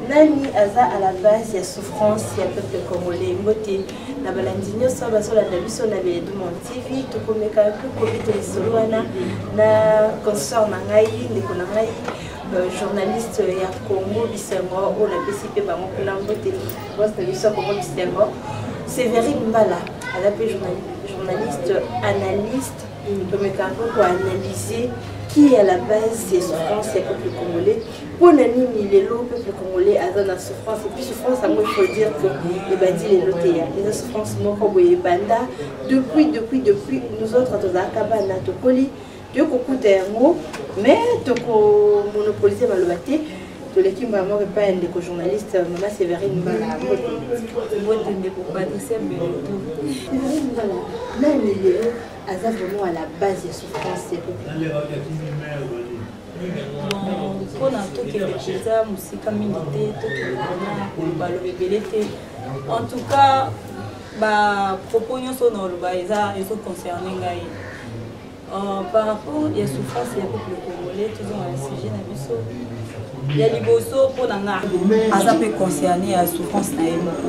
nani aza à la base ya souffrance ya peuple congolais mbote na balandi nyonso bazolanda biso na beedumon tv tokomeka mpe kobito lisolo wana na consort na ngai ndeko na ngai euh, journaliste ya congo bisengo oyo napesi mpe bango kuna mbote bos na biso ya congo bisengo severine mbala aza mpe journaliste analyste Tomeka mpo ko analyser qui est à la base ya souffrance ya peuple congolais mpo na nini lelo peuple congolais aza na souffrance epuis souffrance yango il faut dire que ebandi lelo te ya eza souffrance moko boye ebanda depuis depuis depuis nous autres tozalaka bana tokoli toyei kokuta yango mais tokomonopolise maloba te toleki mbala moko epai ya ndeko journaliste mama severine mbala mbote ndeko patricia mbelotu severine mbala nani lelo aza vraiment à la base ya souffrance ya mpona tokende mpenza mosika mingi te tokendana baloba ebele te en tout cas bapropos nyonso na oloba eza ezoconcerne ngai Euh, par rapport ya souffrance ya peuple congolais tozonga na sujet na biso ya liboso mpo na nga aza mpe concerne ya souffrance na ye moko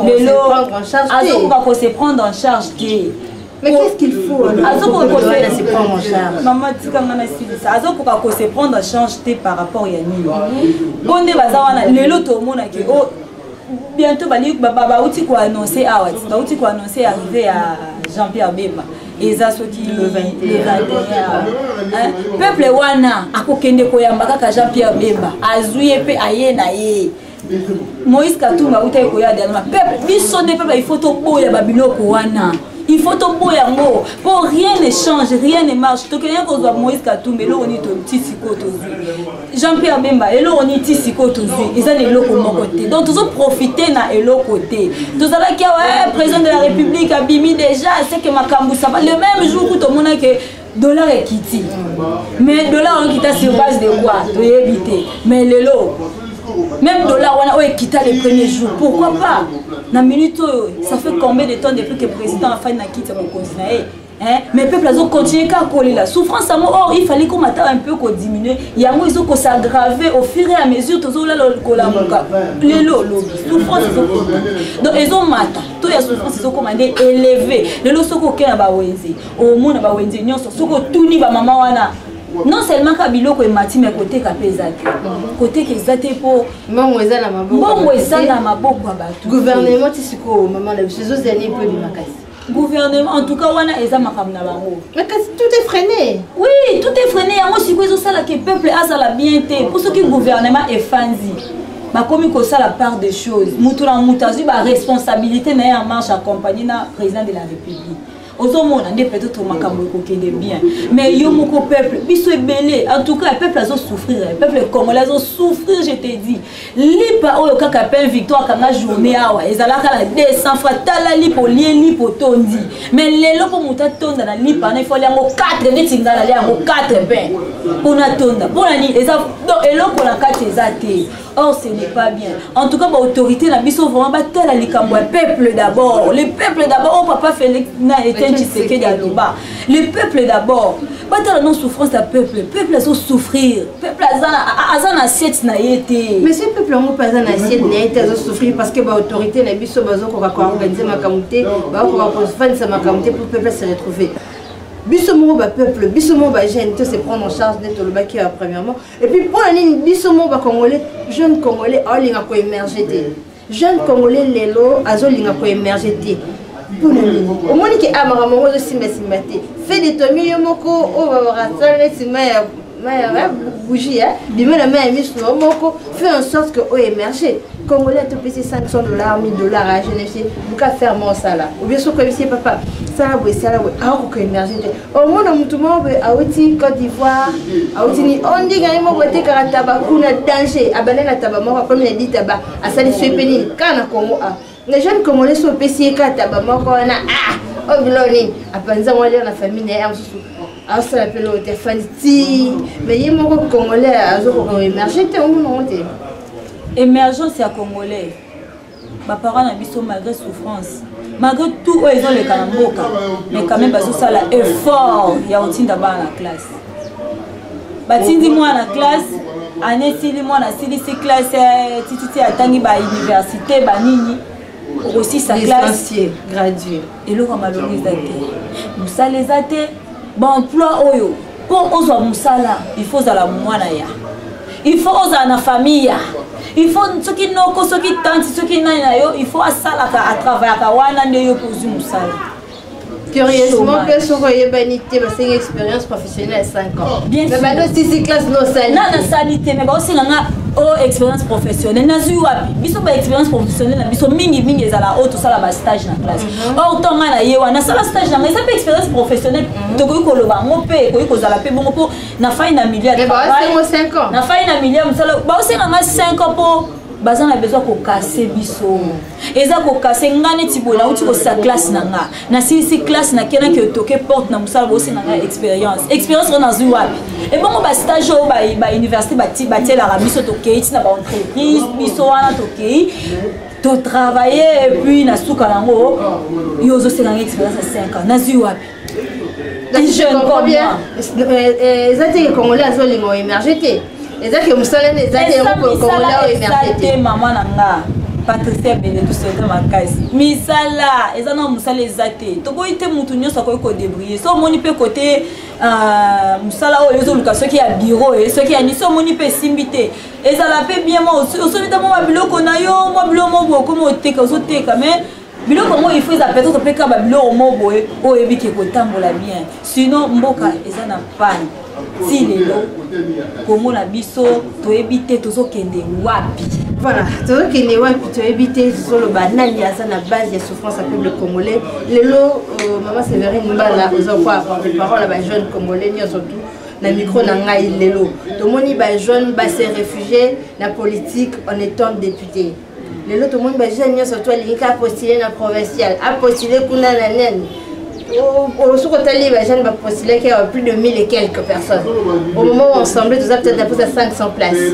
lelo azokoka ko se prendre en charge te Mais qu'est-ce qu'il faut Maman, tu as azokoka ko se prendre en charge te par rapport ya nini mpo nde baza wana lelo tomonaki o oh, bientôt bali bauti koannonce awa ah bauti koannonce arrivé ya jean pierre bemba eza soki le 21 peuple wana akokende koyamba kaka jean pierre bemba azwi ye mpe aye na ye moïse katumbi autai koya dernièrement peuple biso nde peuple il faut toboya babiloko wana il faut toboya yango mpo rien ne change rien ne marche tokende kozwa moïse katumbi eloko nini toti sikoyo tozwi jean pierre bemba eloko nini ti sikoyo tozwi eza na eloko moko te donc tozoprofite na eloko te tozalaki awa eh, président de la république abimi déjà seke makambo sava le même jour ku tomonaki dollar ekiti mais dollar wana ekita sur base de quoi toyebi te mais lelo même dollar wana oyo ekita le premier jour pourquoi pas na minute oyo ça fait combien de temps depuis que président afani na kiti ya mokonzi na ye Hein? mais peuple azo continuer kaka kolela souffrance yango or il fallait komata un peu kodiminue yango ezo kosagrave au fur et à mesure tozolala kolamuka lelo olobi souffrance ezokoma donc ezomata to ya souffrance ezokoma nde éleve lelo soki okei na bawenze omona bawenze nyonso soki otuni bamama wana non seulement ka biloko emati me koteka mpe eza te koteka eza te mpo mbongo eza na maboko ya bato gouvernement ti sikoyo mama na biso ezozela nini mpo ebimakasi gouvernement en tout cas wana eza makambo na bango mais kasi tout est freiné oui tout est freiné yango sikoyo ezosala ke peuple azala bien te mpo soki gouvernement efandi bakomi kosala part des choses moto na moto azwi baresponsabilité na ye en marche accompagne na président de la république ozomona nde peut-être makambo ekokende bien mais yo moko peuple biso ebele en tout cas peuple azosouffrir peuple congolais azosouffrir je te dis lipa oyo kaka pain victoire kanga journée awa ezalaka na 200 fra tala lipa olie lipa otondi mais lelo mpo moto atonda na lipa wana ifali yango 4 neti ngai nalia yango 4 pain mpo natonda mpo na nini eza donc eloko na kati eza te or ce n'est pas bien en tout cas baautorité na biso vraiment batala likambo ya peuple d'abord le peuple d'abord oyo oh, papa félix na etienne tshisekedi aloba le peuple d'abord batala no souffrance ya peuple peuple azo souffrir peuple aza na assiette na ye te mais ce peuple yango mpe aza na assiette na ye te azo souffrir parce que baautorité na biso bazokoka koorganize makambo te bakoka kofandisa makambo te pour peuple se retrouver biso moko bapeuple biso moko bajeune to se prendre en charge nde tolobaki ya premièrement et puis mpo na nini biso moko bacongolais jeune congolais aolinga koemerge te jeune congolais lelo azolinga koemerge te mpona nini omoni ke a ah, makambo yango ozosimbasimba te fe de tomi yo moko oyo oh, babakasala neti mai ya maya bougie ya bima na mai ya misu na yo moko fait en sorte que oyo émerge congolais atopesi 500 dollars 1000 dollars ya jeunesse buka ferme osala obie soki oyebisi ye papa sala boye sala boye akokoka émerge te omona motu moko boye awuti cote d'ivoire awuti ni ondinga ye moko etekaka taba kuna danger abanda na taba moko akomi na di taba asalisi ye mpe nini kaka na congo a na jeune congolais so opesi ye kaka taba moko wana ah oyo biloko nini apanza yango alya na famille na ye ya mosusu asala mpe loko te afandi ti mais ye moko congolais azokoka emerge te omonango te émergence ya congolais baparent na biso malgré souffrance malgré tout oyo ezoleka na mboka mais quand même bazosala effort ya kotinda bana na classe batindi mwana na classe ane esili mwana asilisi classe eh, tititi atangi bauniversité banini okosisa classe graduer eloko ya malonga eza te mosala eza te baemploi oyo mpo ozwa mosala il faut ozala mwana ya il faut ozala na famille ya il faut soki noko soki tanti soki nani na yo il faut asalaka atravayaka wana nde yo mpe ozwi mosala curieusement mpe soki oyebani te basengi expérience professionnelle professionnel 5 ans. Bien mais sûr. Mais bado sisi classe no sali. Na na sali te mais ba osenga nga oh expérience professionnelle nazwi wapi biso ba expérience professionnelle na biso mingi mingi ezala oyo tosala ba stage na classe mhm. or ntango ngai na ye wana nasala stage na ngai eza mpe expérience professionnelle mhm. tokoki koloba yango mpe ekoki kozala mpe bongo mpo na fai na milieu na fai na milieu mosala baosenga ngai 5 ans mpo baza na besoin kokase biso eza kokase nga neti boye nauti kosisa classe na nga nasilisi classe nakenaki otoke porte na mosala bosenga nga expérience expérience oyo nazwi wapi ebongo bastage oyo bauniversité batielaka biso tokei ntina baentreprise biso wana tokei totravaille epuis na suka yango yo ozosenga nga expérience ya 5 ans nazwi wapi jeune comme moi eza te ke congolais azolinga oemerge te eza ke mosala nde eza te yango congolais oemerge te mama na nga patricia bene tosota makasi misala eza na mosala eza te tokoki te motu nyonso akoki kodebrille so omoni mpe kote euh, mosala oyo ezoluka soki ya biro e soki ya nisi omoni mpe esimbi te ezala mpe bien ma osobi ta mwa biloko na yo mwa biloko moko okomi oteka ozoteka mais biloko yango il faut eza peut-être mpe kaka babiloko moko boye oyo oyebi ke kotambola bien sinon mboka eza na pane ti lelo kongo na biso toyebi te tozokende wapi voilà tozokende wapi toyebi te tozoloba nani aza na base ya souffrance ya peuple congolais lelo euh, mama séverine mbala oza kwa apporte parole ya bajeune congolais nyonso tout na micro na ngai lelo tomoni bajeune base réfugié na politique en étant député lelo tomoni bajeune nyonso to alingi ka postule na provincial apostule kuna na nani soki otali bajeune bapostulaki awa plus de 1000 et quelques personnes au moment où ensemble toza peut-être apesa 500 places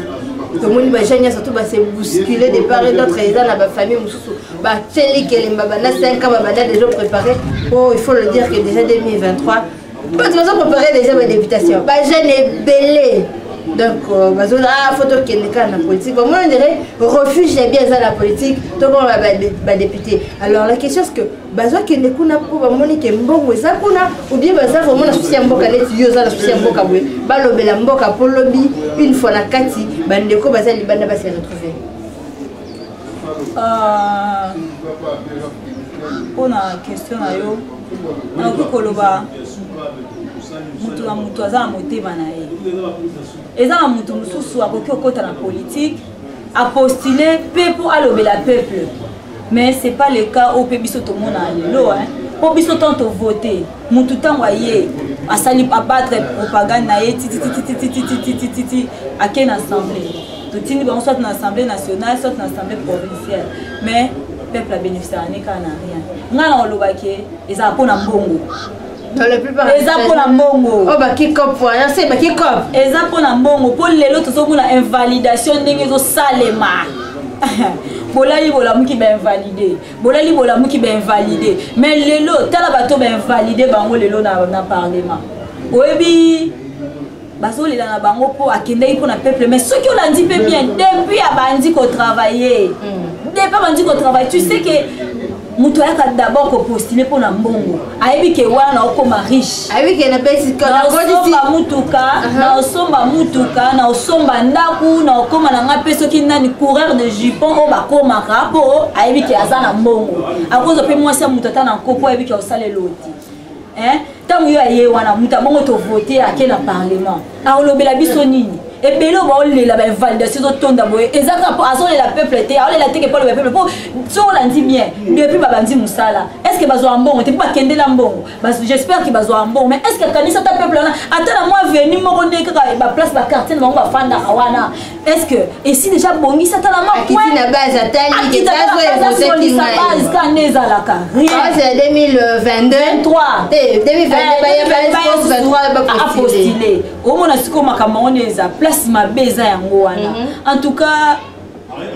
tomoni bajeune nyonso to base bouscule de part et d'autre eza na bafamille mosusu batieli kelemba banda 5 ans babanda déjà préparé po oh, il faut le dire que déjà 2023 mpo toza prépare déjà badéputation bajeune ebele donc euh, bazona ah, fo tokende kaka na politique bamoi ondire refuge ya bien eza na politique tokoma badéputé alors la question ce que bazokende kuna mpo bamoni ke mbongo eza kuna obie baza vraimen na susi ya mboka neti yo oza na susi ya mboka boye balobela mboka mpo lobi une fois na kati bandeko baza libanda basi ya retrouver Ah, mpo na question na yo nakoki koloba moto na moto aza na motema na ye eza na moto mosusu akoki kokɔta na politike apostule mpe mpo alobela peuple mais c'est pas le cas oyo mpe biso tomona lelo mpo biso ntango tovote motu ntango aye asali abattre propagande na ye tititititititititi ake na assemblée totindi bango soit na assemblée nationale soit na assemblée provinciale mais peuple abénéficiaka ne kaka na rien ngai nakolobaki ezala mpo na mbongo eza mpo na mbongo oh, eza mpo na mbongo mpo lelo tozomona invalidation ndenge ezosalema bolali bolamuki bainvalide bolali bolamuki bainvalide mais lelo tala bato bainvalide bango lelo na, na parlement oyebi bazolela na bango mpo akendaki mpo na peuple mais soki olandi mpe bien depuis abandi kotravaille mm. depuis abandi kotravaille tu sais ke moto ayaka d'abord kopostule mpo na mbongo ayebi ke wana naokoma riche naosomba motuka naosomba motuka naosomba ndako naokoma na ngai mpe soki nani coureur de jupon oyo bakomaka mpo ayebi ke aza na mbongo akozwa mpe mwasi ya moto ata na nko mpo ayebi ke osala eloti hein ntango yo aye wana moto abongo tovote ake na parlement akolobela biso nini ebele oyo baolela bainvalidation ezotonda boye eza kaka mpo azolela peuple te aolela teke mpo aloba peuple mpo soki olandi bien depuis babandi mosala est ce que bazwaka mbongo te mpo bakendela mbongo j'espère que bazwaka mbongo mais est ce que akanisi ata peuple wana ata na mwa venu moko nde kaka baplace baquartier na bango bafandaka wana est ce que esi deja abongisa tala makiti na base ataliazolisa ka nde ezalaka rienbase 2022apostile omona sikoyo makambo yango nde eza place mabe eza yango wana mhm. en tout cas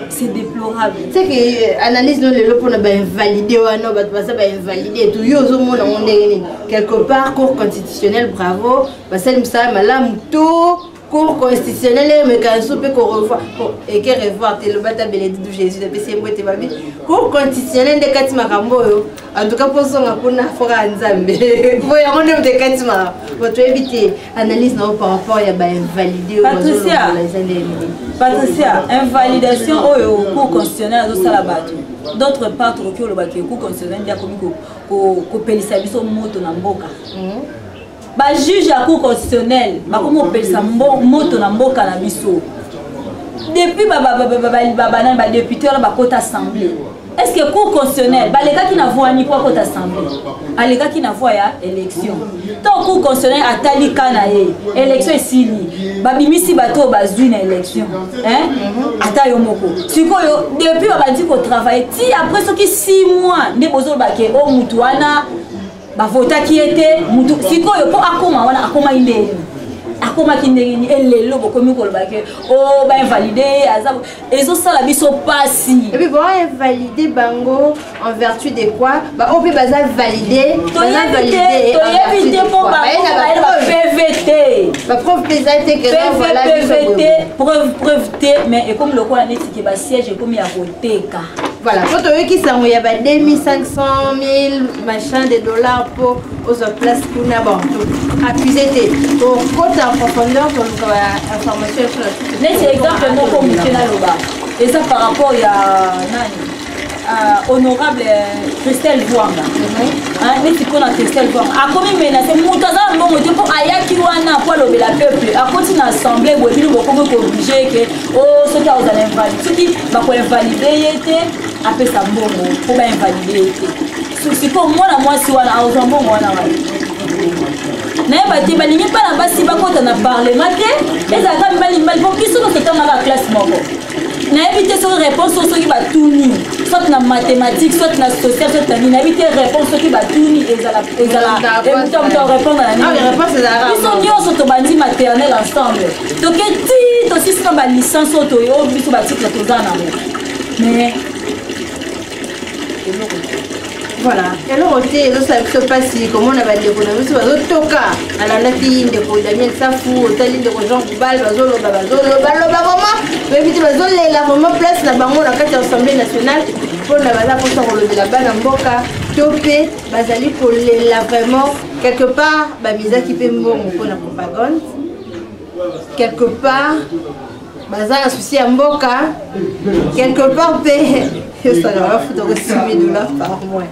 c'est déplorable c'est que euh, analyse no lelo mpona bainvalide wana bato baza bainvalide to yo ozomona yango ndenge nini quelque part cour constitutionnel bravo basali mosala malamu to cour constitutionnel emeka lisusu mpe korevoir eke revoir te eloba ta beledi du jésus napesi yembo ete babi cour constitutionnel nde kati makambo oyo antuka mpo ozonga kuna foka ya nzambe mpo yango nde moto ekati makambo po toyebi te analyse na yo par rapport ya bainvalide oyo bazolongola eza nde patricia invalidation oyo cour constitutionnel azosala bato d'autre part tokoki olobaki cour constitutionnel nde akomi kopelisa biso moto na mboka hmm? ba juge ya cour constitutionnelle bakomi kopelisa moto na mboka na biso depuis babanani badepute wana bakota assemblée est ce que cour constitutionnelle balekaki na voi niko akota assemblée alekaki na voi ya élection to cour constitutionnelle atali ka na ye élection esili babimisi bato oyo bazwi na élection ata yo moko sikoyo depuis babandi kotravaille ti après soki 6 mois nde bozolobake o oh, motu wana bavotaki ye te motu sikoyo mpo akoma wana akomaki nde ye akomaki ndenge nini elelo bokomi koloba ke o oh, bainvalide ye aza ezosala biso mpasi epuis bainvalide bango en vertu de quoi baoyo mpe baza valide toyebi te mpo bapv te bapreuve mpe eza te pv te preuve preuve te mais ekomi lokola neti ke basiège ekomi ya teka voilà po toyoki sango ya ba 2500 machin de dollars po ozwa place kuna bantu accuse te tokota en profondeur toluka ba information ya sona neti exemple moko moke naloba eza par rapport ya nani euh, honorable euh, christelle vuanga mhm. neti mpo na christelle vuanga akomi menase moto aza na mbongo te mpo ayaki wana mpo alobela peuple akoti na assemblée boye bino bokomi kooblige ke o oh, soki aozala invali soki bako invalide ye te apesa mbongo mpo ba invalide ye te sikoyo mwana mwasi wana aozwa mbongo wana wana nayeba te balingi bana basi bakota na parlema te ezalaka mibali mibali mpo biso nyonso etangaka classe moko nayebi te soki réponse oyo soki batuni soit na mathématique soit na social soit na nini nayebi te réponse soki batuni ezalaemutamto répondre na nini biso nyonso tobandi maternel ensemble toke ti tosisi na balicence oyo toyo oyo biso batitre toza nango mais eloko te voilà eloko te ezosala biso mpasi komona bandeko na biso bazotoka alandaki ndeko daniel safu otali ndeko jean gubal bazoloba bazoloba loba vraimen oyebi te bazolela vraimen place na bango na kati ya assemblée nationale mpona baza mposa kolobela bana mboka to mpe bazali kolela vraiment quelque part bamizaki mpe mbongo mpona propagande quelque part baza na susi ya mboka quelque part mpe esalaka bafuta ko 6000 dollars par mois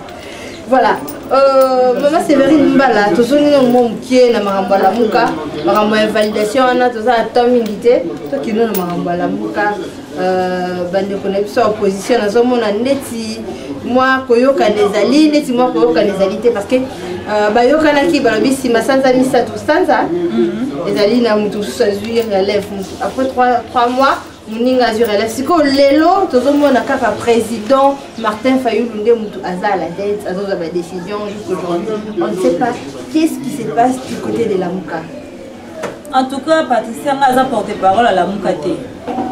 voilà euh, mama séverine mbala tozongi nano mwa moke na makambo ya lamuka makambo ya validation wana toza na temps mingi te tokino na makambo ya lamuka Euh, bandeko na biso ya opposition nazomona ndeti mwa koyokana ezali ndeti mwa koyokana ezali te parce que euh, bayokanaki balobi nsima sanza misato sanza mhm. ezali na moto mosusu azwi relève après 3 mois moninga azwi relève sikoyo lelo tozomona kaka président martin fayulu nde moto aza à la tête azozwa badécision jusqu'aujourd'hui on ne sait pas qu'est ce qui se passe du côté de lamuka en tout cas patricia nga aza porte parole alamuka te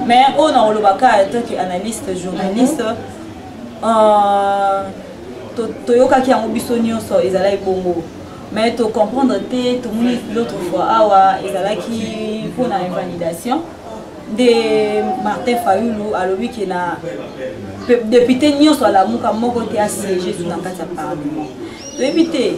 mais oyo nakoloba ka toki analyste journaliste euh, toyokaki yango biso nyonso ezalaki bongo mais tocomprendre te tomoni l'autre fois awa ezalaki mpona invalidation nde martin fayulu alobi ke na depute nyonso alamuka moko te asiege zu na kati ya parlement toyebi te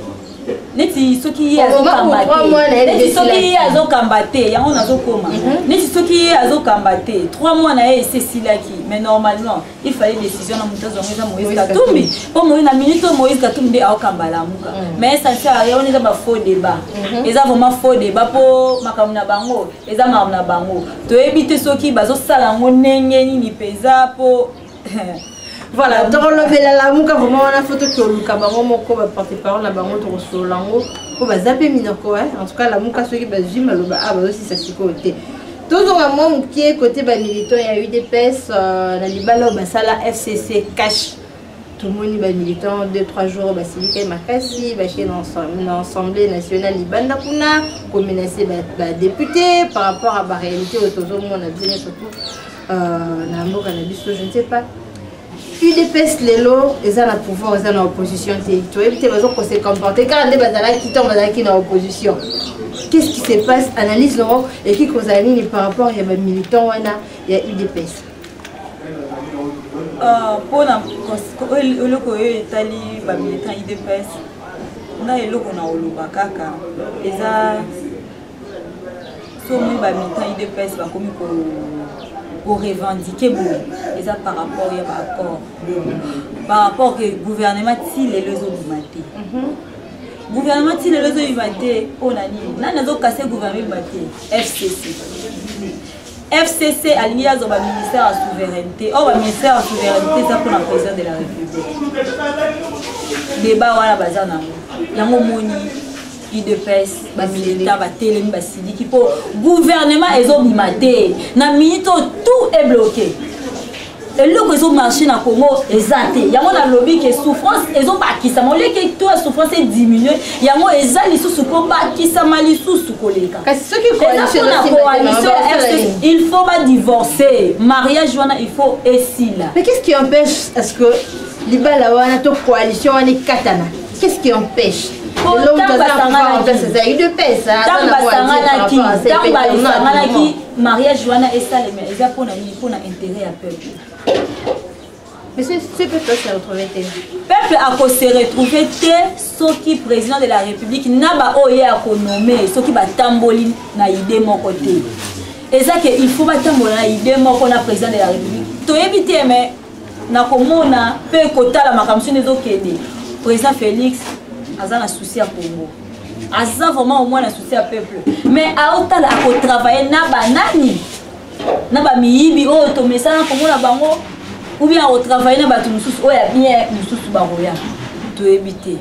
neti soki ye azokamba te neti soki ye azokamba te yango nazokoma mhm. neti soki ye azokamba te trois mois na ye esi esilaki mais normalement il fallait décision na moto azwango eza moïse katumbi mpo moïse na minute oyo moïse katumbi nde aokamba lamuka mhm. mais esansar ye wana eza bafaux débat mhm. eza vraiment faux débat mpo makambo na bango eza makambo na bango toyebi te soki bazosala yango ndenge nini mpenza mpo voilà tokolobela lamuka vraimen wana fo tokoluka bango moko baporte parole na bango tokosolola yango mpo baza mpe minoko en tout cas lamuka soki bazwi maloba a bazosisa sikoyo te tozonga mwa moke kote bamilitant ya udps euh, na libala oyo basala fcc cash tomoni bamilitant 2-3 jours basilikaki makasi bake na assemblée nationale libanda kuna komenase badepute par rapport ya baréalité oyo tozomona bino surtout Euh, na mboka na biso je ne sais pas udps lelo eza na pouvoir eza na opposition te toyebi te bazokose comporte kaka nde bazalaki ntango bazalaki na opposition qu'est ce qui se passe analyse nango ekoki kozala nini par rapport ya bamilitant wana ya udps mpona euh, eloko oyo etali bamilitant udps nga eloko na oloba kaka eza so omoni bamilitant idps bakomi korevendike boye eza par rapport ya baaccord par rapport ke gouvernement ti lelo ezobima te mhm. gouvernement ti lelo ezobima te mpo na nini nani azokase gouvernement ebima te fcc fcc alingi azwa baministère ya souveraineté oyo oh, baministère ya souveraineté eza mpona président de la république deba wana baza nango yango omoni udps bamilita batelemi basiliki mpo gouvernement ezobima te na minute oyo tout est bloqué eloko ezomarche na congo eza te yango nalobi ke souffrance ezobakisama oleke to ya souffrance ediminue yango eza lisusu kobakisama lisusu koleka ezapona coalition ya rc il faut badivorce mariage wana il faut esila mais qu'est ce qui empêche est ce que libala wana to coalition wana ekatana Qu'est-ce qui empêche ntango basanganaki ntango basanganaki mariage wana esalema eza mpo na nini mpo na intérêt ya peuple Monsieur, ce peuple se retrouver te. Peuple a ko se retrouver te soki président de la République na ba oye a ko nommer soki ba tamboli na idée moko te. Eza que il faut ba tambola na idée moko na président de la République. Toyebi te mais na komona mpe kotala makambo sino ezokende président félix aza na souci ya congo aza vraiment omwana na souci ya peuple mais aotala akotravaille na banani na bamiyibi oyo oh, tomesana komona bango ou bien akotravaille na bato mosusu oyo oh, ya bien mosusu bakoya toyebi te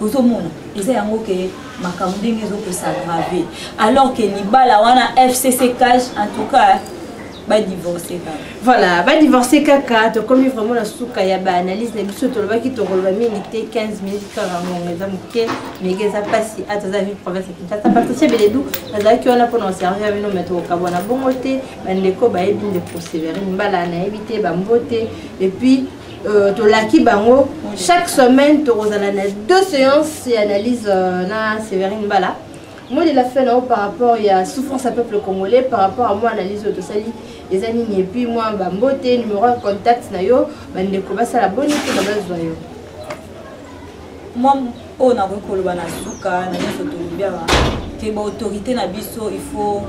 ozomona eza yango ke makambo ndenge ezokosagrave alors ke libala wana fcc cash en tout cas badivorce kaka voilà badivorce kaka tokomi vraiment na suka ya baanalyse na biso tolobaki tokoloba mingi te 15 minute kaka ngongo eza moke mege eza mpasi ata aza vie province ya kinshasa patricia beledu nazalaki wana mpona oservir bino me tokokabwana bongo te bandeko bayebi ndeko severine mbala nayebi te bambote epuis Euh, tolaki bango chaque semaine tokozala na deux séances ya analyse euh, na séverine mbala molela fe na yo par rapport ya souffrance ya peuple congolais par rapport ya mwa analyse oyo tosali eza nini epuis mwa bambote numero ya contact na yo bandeko basala boni mpona bazwa yo oyo nakoki koloba na suka na nyonso tolobi awa ke baautorité na biso il faut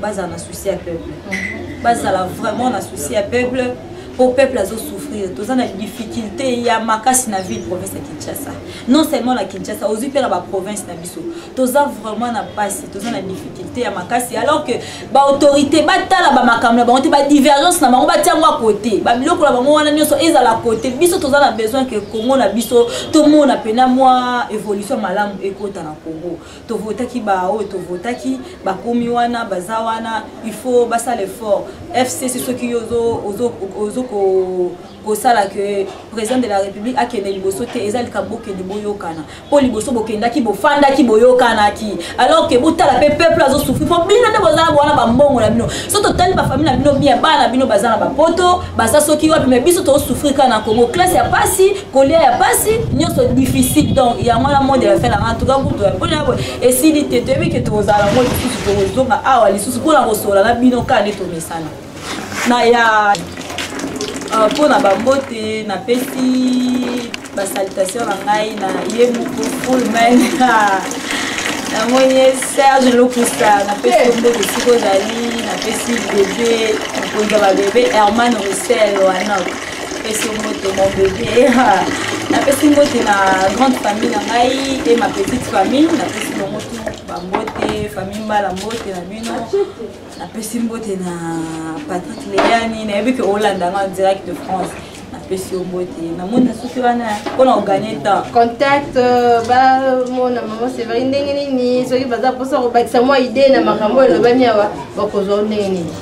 bazala na souci ya peuple mhm. bazala vraiment na souci ya peuple mpo peuple azosouffrir toza na difficulté ya makasi na ville province ya kinshasa non seulement na kinshasa ozwi mpe na baprovince na biso toza vraiment na mpasi toza na difficulté ya makasi alors que baautorité batala bamakambo na bango te badivergence na bango batia yango akote babiloko na bango wana nyonso ezala kote biso toza na besoin ke congo na biso tomona mpena mwa évolution malamu ekota na congo tovotaki baoyo tovotaki bakomi wana baza wana il faut basala effort fcc soki yo ozo kosala ke président de la république akende liboso te eza likambo okende boyokana mpo liboso bokendaki bofandaki boyokanaki alors ke botala mpe peuple azosufri mpo bino nde boza na bowana bambongo na bino so totali bafamile na bino bien bana na bino baza na bapoto baza soki wapi mai biso tosufri kaka na congo classe ya pasi kolia ya pasi nyonso difficile donc yango wana monde ya fela en tout cas kutu ya mpona yabo esili te toyebi ke tokozala yango lisusu tokozonga awa lisusu mpona kosola na bino kaka nde tomesana na ya ah, mpo na bambote napesi basalitation na ngai na ye moko fulman namoni ye serge lokusa napesi yo mbote esika ozali napesi bebe mokonzi ya babebe herman russel wanok napesi yo mbote mon bebe napesi mbote na grande famille na ngai e ma petite famille napesi bango tu bambote famille mbala mbote na bino napesi mbote na patrik leyani nayebi ke olanda nga direct de france napesi yo mbote namoni na soki wana mpo na oganye temps contact euh, bamona mama severi ndenge nini soki baza mposa kobakisa mwa idee na makambo oyo elobami awa bakozwa ndenge nini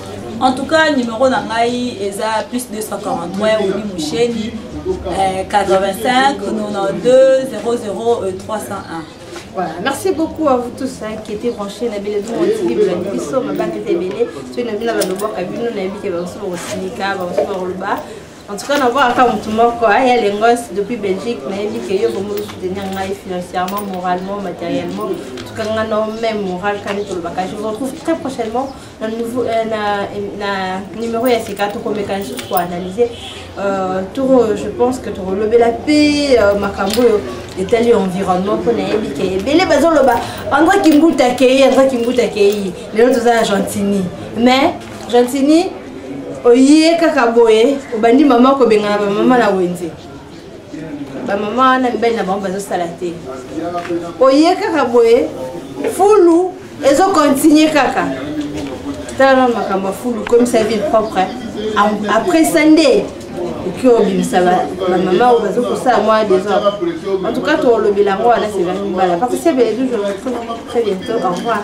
en tout cas numéro na ngai eza plus 243 obi musheni 85 92 00 301 Voilà, merci beaucoup à vous tous hein, qui étaient branchés na bile dumo TV bela biso mabanga te bele to na bina ba loboka bino na bike ba so rosilika ba so roluba en tout cas na voir aka mutu moko hein, ya lengos depuis Belgique na yebi que yo bomo soutenir ngai financièrement moralement matériellement tout cas nga no même moral quand je le je vous retrouve très prochainement na, nouveau, euh, na, na numéro ya sika tokomeka lisusu koanalyse euh, toro je pense que tokolobela mpe euh, makambo oyo etali environnement mpo nayebi ke ebele bazoloba andra kimbuta akei andra kimbuta akei lelo toza na gentini mais gentini oye kaka boye obandi mama kobengana bamama na wenze bamama wana mibali na bango bazosala te oye kaka boye fulu ezokontinue kaka tala nano makambo ya fulu komisa ville propre après ça nde oki obimisa bamama oyo bazokosala mwa desordre en tout cas tolobela yango wana sevani mbala parce que c'est bien toujours très bientôt au revoir